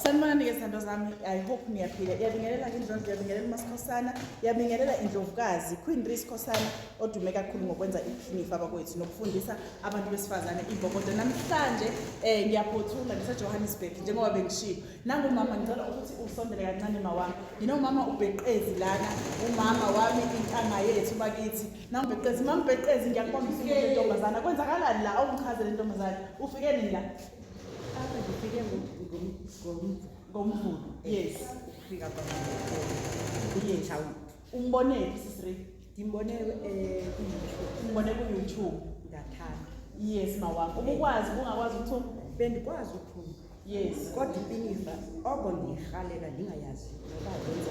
sanibonani-ke zithandwa zami i hope niyaphila iyabingelela ke indlondlo iyabingelela umasikhosana iyabingelela indlovukazi queen riskhosana odume kakhulu ngokwenza iphinifa abakwethu nokufundisa abantu besifazane ibokodo namhlanje um ngiyaphothula ngisejohannesburg njengoba bengishiyo nangumama ngicela ukuthi usondele kancane mawami nginomama ubheqezi lana umama wami intanga yethu bakithi nangubheqezi mambheqezi ngiyakubonga usuke lentombazana kwenzakalani la awungichazele intombazane ufike nini la After ngifike ngomvulo. Yes. Ukufika kwami. Yes. Umbonephi sisri? Ngimbone eh umbone ku YouTube. Ngathanda. Yes mawami. Ubukwazi ungakwazi ukuthuma? Bendikwazi ukuthuma. Yes. Kodwa impinifa oko ndiyihalela ndingayazi ngoba yenza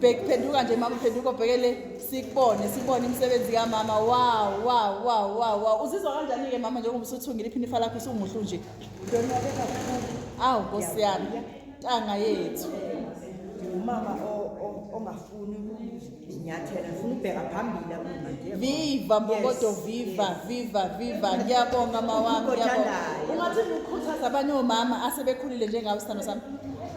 bheki phenduka nje mama phenduka ubheke le sikubone sibone imisebenzi kamama wow wow wow wow wow uzizwa kanjani-ke mama njengoba usuthungile iphinifa lakho usumuhlu nje awu nkosi yami ntanga yethu umama ongafuni inyathela ngifuna ubheka phambili akumanje viva mbokodo viva viva viva ngiyabonga mawami ngiyabonga ungathi ukhuthaza abanye omama asebekhulile njengawe sithando sami